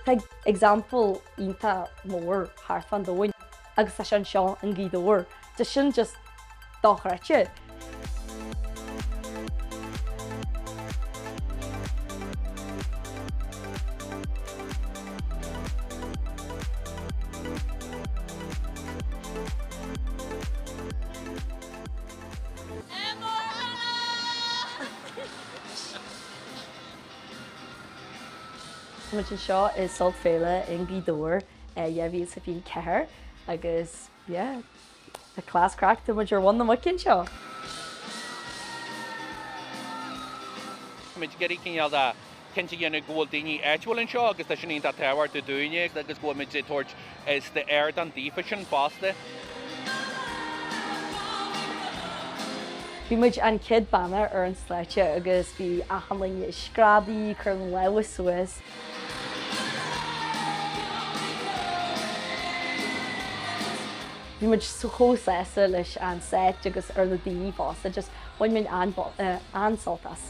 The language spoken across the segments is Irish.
Tá example iontach mór thart fán domhan agus tá sé anseo in Gaoth Dobhair tá sin just dochreidte. Tá muid anseo i Sult Féile i nGaoth Dobhair 2024 agus yeah, tá class craic, tá muid ar mhuin na muice anseo! Tá muid ag iarraidh cineál de cinnte a dhéanamh go bhfuil daoine áitiúil anseo agus tá sin iontach tábhachtach dúinne agus go bhfuil muid ag tabhairt ardán daofa sin fosta. Bhí muid an chéad bhanna ar an stáitse agus bhí achan duine ag screadaí, ag cur na lámha suas. Bhí muid chomh sásta leis an seit agus ar na daoine fosta, just bhain muid an-sult as.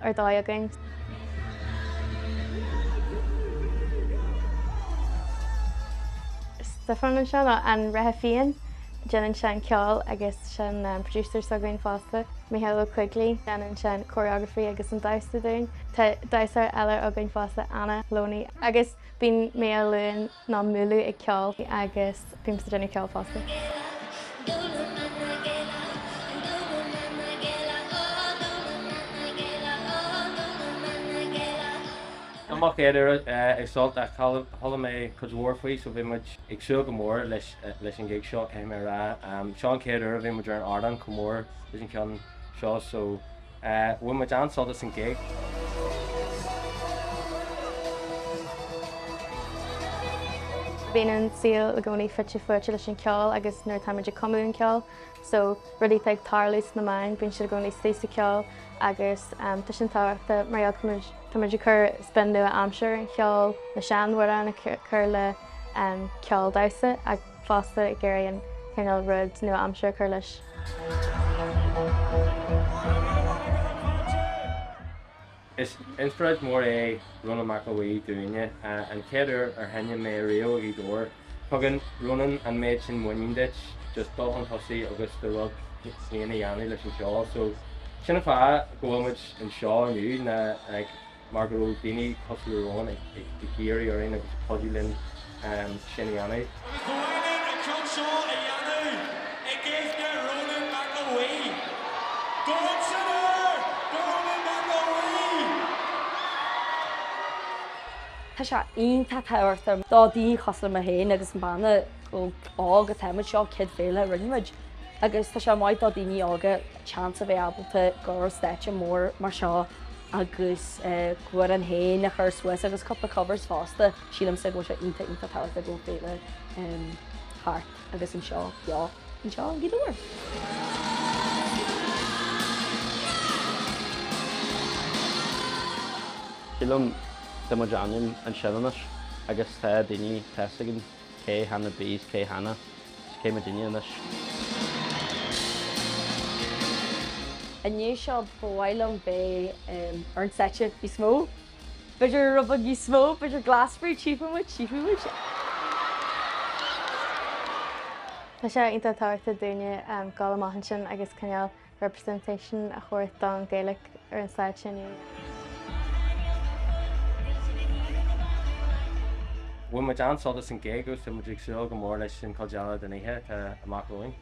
ar dóigh againn. Stefan anseo, nó an Reithe Fiáin. Déanann sé an ceol agus is é an producer s'againn fosta, Micheál Ó Coigligh. Déanann sé an choreography agus an damhsa dúinn. Tá damhsóir eile againn fosta, Anna Loney. Agus bíonn Meehal Luain nó Mulú ag ceol agus bímse ag déanamh ceoil fosta! Mo chéad uair ag Sult ach chuala mé cuid mhór faoi so bhí muid ag súil go mór leis an gig seo caithfidh mé a rá. Seo an chéad uair a bhí muid ar an ardán chomh mór leis an cheann seo so Bhain muid an-sult as an gig. Bíonn an saol i gcónaí fite fuaite leis an cheol agus nuair atá muid ag cumadh an cheoil so, rudaí atá ag tarlú sna meáin, bíonn siad i gcónaí istigh sa cheol agus tá sin tábhachtach mar gheall go tá muid ag cur spin nua-aimseartha ar an cheol, na sean-amhráin a chur le ceol damhsa. fosta, ag iarraidh an cineál rud nua-aimseartha a chur leis. Is inspioráid mhór é Rónán Mac Aodha dúinne. An chéad uair ar sheinn mé riamh i nGaoth Dobhair, tugann Rónán an méid sin muinín duit just dul 'un tosaigh agus do rud féin a dhéanamh leis an cheol. So sin an fáth go bhfuil muid anseo inniu, ná ag. mar go raibh daoine cosúil le Rónán ag iarraidh orainn agus ag cuidiú linn sin a dhéanamh. Ba chóir duit an ceann seo a dhéanamh i gcuimhne Rónán Mac An Mhaoi. Go raibh san air do Rónán Mac An Mhaoi! Tá sé iontach tábhachtach do daoine cosúil le mé féin agus an banna óg atá muid, seo céad féile a rinne muid agus tá sé maith do daoine óga seans a bheith ábalta gabháil ar stáitse mór mar seo. agus amhráin fhéin a chur suas agus cúpla covers fosta, sílimse go bhfuil sé iontach iontach tábhachtach go bhfuil féile thart agus an seó beo anseo i nGaoth Dobhair. Sílim tá muid ainm ansin anois agus tá daoine teastaigh an. Cé Hannah B 's cé Hannah 's cé muidinne anois. I ndiaidh seo ba mhaith liom bheith ar an stáitse níos mó. B'fhéidir puball níos mó, b'fhéidir Glastonbury, tchífidh muid, tchífidh muid. Tá sé iontach tábhachtach dúinne dul amach ansin agus cineál representation a thabhairt don Ghaeilge ar an stáitse inniu. Bhain muid an-sult as an gig agus tá muid ag súil go mór leis an chuid eile den oíche atá amach romhainn.